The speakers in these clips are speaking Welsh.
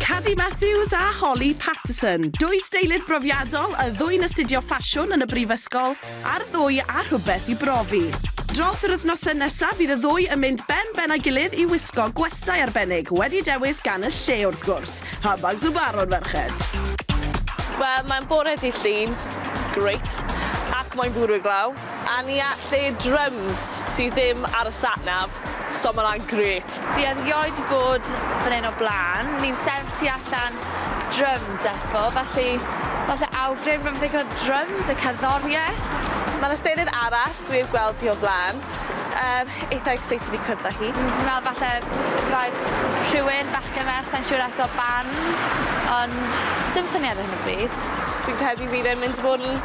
Cadi Matthews a Holly Patterson, dwy steilydd brofiadol, y ddwy'n astudio ffasiwn yn y brifysgol, a'r ddwy â rhywbeth i brofi. Dros yr wythnosau nesaf bydd y ddwy yn mynd ben ben â'i gilydd i wisgo gwestai arbennig, wedi dewis gan y lle wrth gwrs. Pa bags o barod, ferched? Wel, mae'n bore dydd Llun, great, ac mae'n bwrw glaw. A ni at lle drums sy ddim ar y sat nav, so ma hwnna'n grêt. Fi erioed di bod fan hyn o blaen, ni'n sefyll tu allan drum depot, felly falle awgrym am ddigon o drums a cerddoriaeth? Mae'n ystyried arall dwi heb gweld hi o blaen, yym eitha excited i cwrdd â hi. Fi'n meddwl falle rhaid rhywun, bachgen, merch, sai'n siŵr eto, band, ond dim syniad ar hyn o bryd. Dwi'n credu bydd e'n mynd i fod yn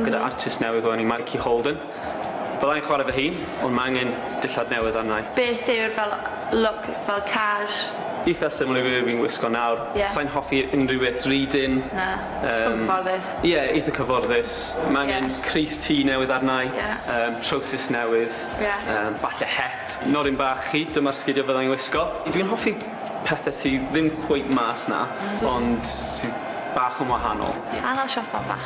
gyda artist newydd o enw Mikey Holden. Fydda i'n chwarae fy hun, ond mae angen dillad newydd arna i. Beth yw'r fel look fel cash? Eitha similar i be fi'n wisgo nawr. Ie. Sai'n hoffi unrhyw beth rhy dynn. Na. Yym. Cyfforddus. Ie eitha cyfforddus. Ie. Ma' angen crys T newydd arna i. Ie. Yym trowsus newydd. Ie. Yym falle het. Nodyn bach chi, dyma'r sgidia fydda i'n wisgo. Dwi'n hoffi pethe sy ddim cweit mas 'na. M-hm. Ond sy bach yn wahanol. Canol siopa bach.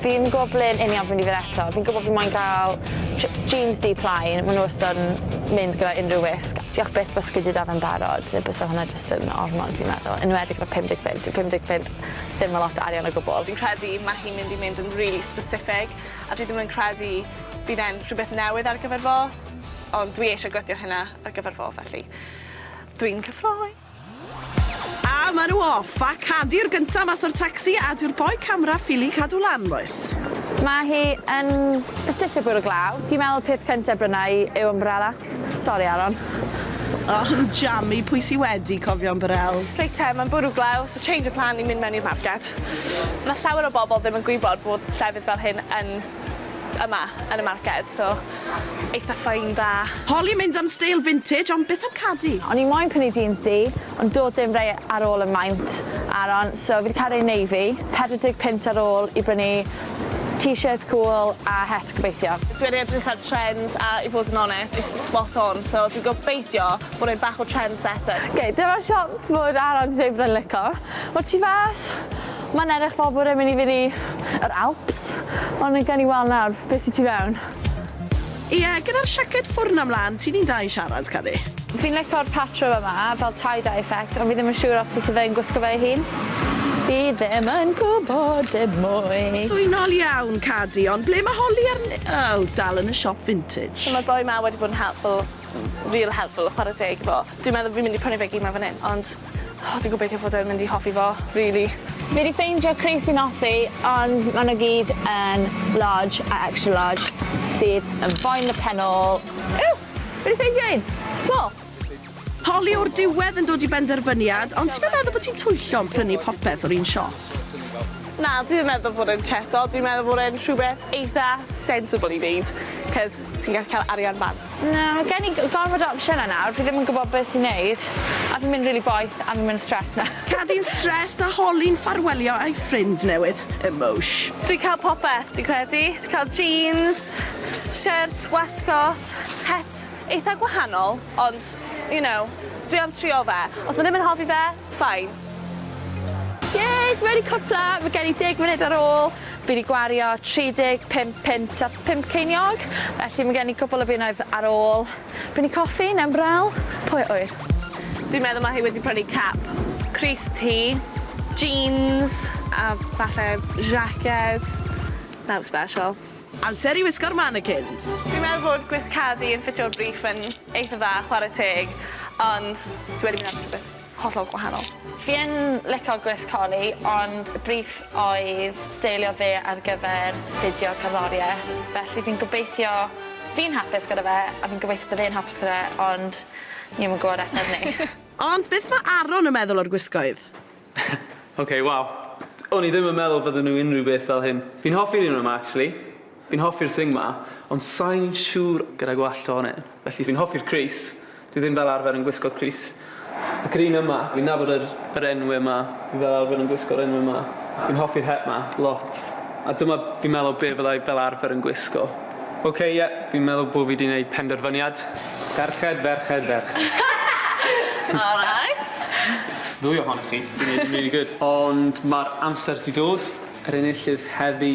Fi ddim yn gwybod ble yn union fi'n mynd i fynd eto. Fi'n gwybod fi moyn cael j- jeans du plaen, maen nhw wastad yn mynd gyda unrhyw wisg. Diolch byth byse fi 'di dal fe'n barod, neu byse hwnna jyst yn ormod fi'n meddwl, yn enwedig gyda pum deg punt, dyw pum deg punt ddim yn lot o arian o gwbl. Dwi'n credu mae hi'n mynd i mynd yn rili specific, a dwi ddim yn credu bydd e'n rhywbeth newydd ar gyfer fo, ond dwi eisiau gweithio hynna ar gyfer fo, felly dwi'n cyffroi! A ma nhw off! A cadi'r gynta mas o'r tacsi a dyw'r boi camera ffili cadw lan bois. Ma hi yn sticio bwrw glaw. Fi'n meddwl peth cynta bryna i yw ymbrela. Sori Aron. Oh yn jammy, pwy sy wedi cofio ymbarel? Reit te, mae'n bwrw glaw, so change of plan i mynd mewn i'r marced. Mae llawer o bobl ddim yn gwybod bod llefydd fel hyn yn yma yn y marced so eitha ffein da. Holly mynd am steil vintage ond byth am cadi. O'n i moyn prynu jeans du ond do'dd dim rei ar ôl y maint aron so fi 'di ca'l rei navy, pedwar deg punt ar ôl i brynu t-shirt cwl a het gobeithio. Dwi wedi edrych ar trends a i fod yn onest it's spot on so dwi gobeithio bod e'n bach o trendsetter. Ok dyma'r siop fod Aron 'di dweud bod e'n lico. Wel ti fas? Mae'n edrych fel bod e'n mynd i fynd i yr Alps, ond gawn ni weld nawr be sy tu fewn. Ie, gyda'r siaced ffwrn am lan, ti'n un da i siarad, Cani. Fi'n lico'r patrwm yma, fel tie-dye effect, ond fi ddim yn siŵr os byse fe'n gwisgo fe ei hun. Fi ddim yn gwbod dim mwy. Swynol iawn, Cadi, ond ble mae Holly a'r ni- Oh, dal yn y siop vintage. So ma'r boi 'ma wedi bod yn helpful, real helpful, chware teg i fo. Dwi'n meddwl fi'n mynd i prynu fe gyd 'ma fan 'yn, ond O dwi gobeithio fod e'n mynd i hoffi fo rili. Fi 'di ffeindio crys fi'n offi ond ma' nw gyd yn large a extra large sydd yn boen y pen ôl. Ww! Fi 'di ffeindio un! Small! Holly o'r diwedd yn dod i benderfyniad, ond ti'm yn meddwl bod ti'n twyllo yn prynu popeth o'r un siop? Na, dwi ddim meddwl bod e'n cheto, dwi'n meddwl bod e'n rhywbeth eitha sensible i neud, 'c'os ti'n gallu ca'l arian bant. Na, mae gen i gormod o opsiynau nawr, fi ddim yn gwybod beth i wneud, a fi'n mynd rili boeth a fi'n mynd stressed nawr. Cadin stressed a holi'n ffarwelio â'i ffrind newydd, Emosh. Dwi'n cael popeth, dwi'n credu. Ti'n cael jeans, shirt, wasgcot, het eitha gwahanol, ond, you know, dwi am trio fe. Os mae ddim yn hoffi fe, fine. Yay! Fi wedi cwpla, mae gen i deg munud ar ôl. Fi wedi gwario 35 punt a phump ceiniog, felly mae gen i cwpl o bunnoedd ar ôl prynu coffi neu'n braw, pwy a ŵyr? Dwi'n meddwl mae hi wedi prynu cap crys du, jeans a falle jacket. Nothing special. Amser i wisgo'r mannequins! Fi'n meddwl bod gwisg Cadi yn ffitio'r briff yn eitha dda chwarae teg, ond dwi wedi mynd am rhywbeth hollol gwahanol. Fi yn lico gwres Corey ond y briff oedd steilio fe ar gyfer fideo cerddorieth felly fi'n gobeithio fi'n hapus gyda fe a fi'n gobeithio bydd e'n hapus gyda fe ond ni 'im yn gwbod eto ar ni. Ond beth ma' Aaron yn meddwl o'r gwisgoedd? Ok waw. O'n i ddim yn meddwl bydden nhw unrhyw beth fel hyn. Fi'n hoffi'r un yma actually. Fi'n hoffi'r thing 'ma, ond sai'n siŵr gyda gwallt ohoni, felly fi'n hoffi'r crys, dwi ddim fel arfer yn gwisgo'r crys. Ac yr un yma, fi'n nabod yr yr enw yma, fi fel arfer yn gwisgo'r enw yma. Fi'n hoffi'r het 'ma, lot. A dyma, fi'n meddwl, be' fyddai fel arfer yn gwisgo. Ok, ie, fi'n meddwl bo' fi 'di neud penderfyniad. Ferched, ferched, ferched. Alright. Ddwy ohonoch chi, fi'n neud yn rili gwd. Ond ma'r amser 'di dod, yr enillydd heddi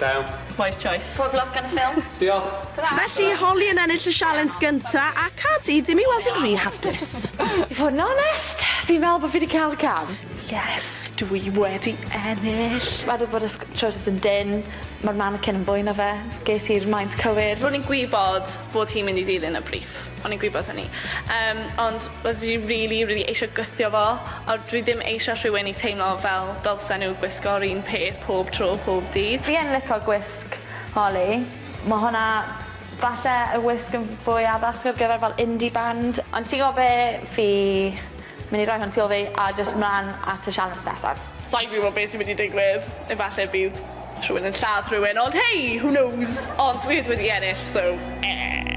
Da iawn. Wise choice. Good luck yn y ffilm. Diolch. Tara. Felly i Holly yn ennill y sialens gynta, a ca di ddim i weld yn rhy hapus. I fod yn onest, fi'n meddwl bo fi 'di ca'l cam. Yes, dw i wedi ennill. Ma' di bod y sc- trowsus yn dynn, ma'r manikin yn fwy na fe, ges i'r maint cywir. Ro'n i'n gwybod bod hi'n mynd i ddilyn y briff. O'n i'n gwybod hynny. Yym ond wel fi rili rili eisio gwthio fo a dwi ddim eisio rhywun i teimlo fel dylsen nhw gwisgo'r un peth pob tro pob dydd. Fi yn lico gwisg Holly. Ma' hwnna falle y wisg yn fwy addas ar gyfer fel indie band. Ond ti gwbo be' fi myn' i roi hwn tu ol fi a jyst mlan at y sialens nesaf. Sai'n gwybod be' sy'n mynd i digwydd. Efalle bydd rhywun yn lladd rhywun ond hei! Who knows? Ond dwi 'yd wedi ennill so eh!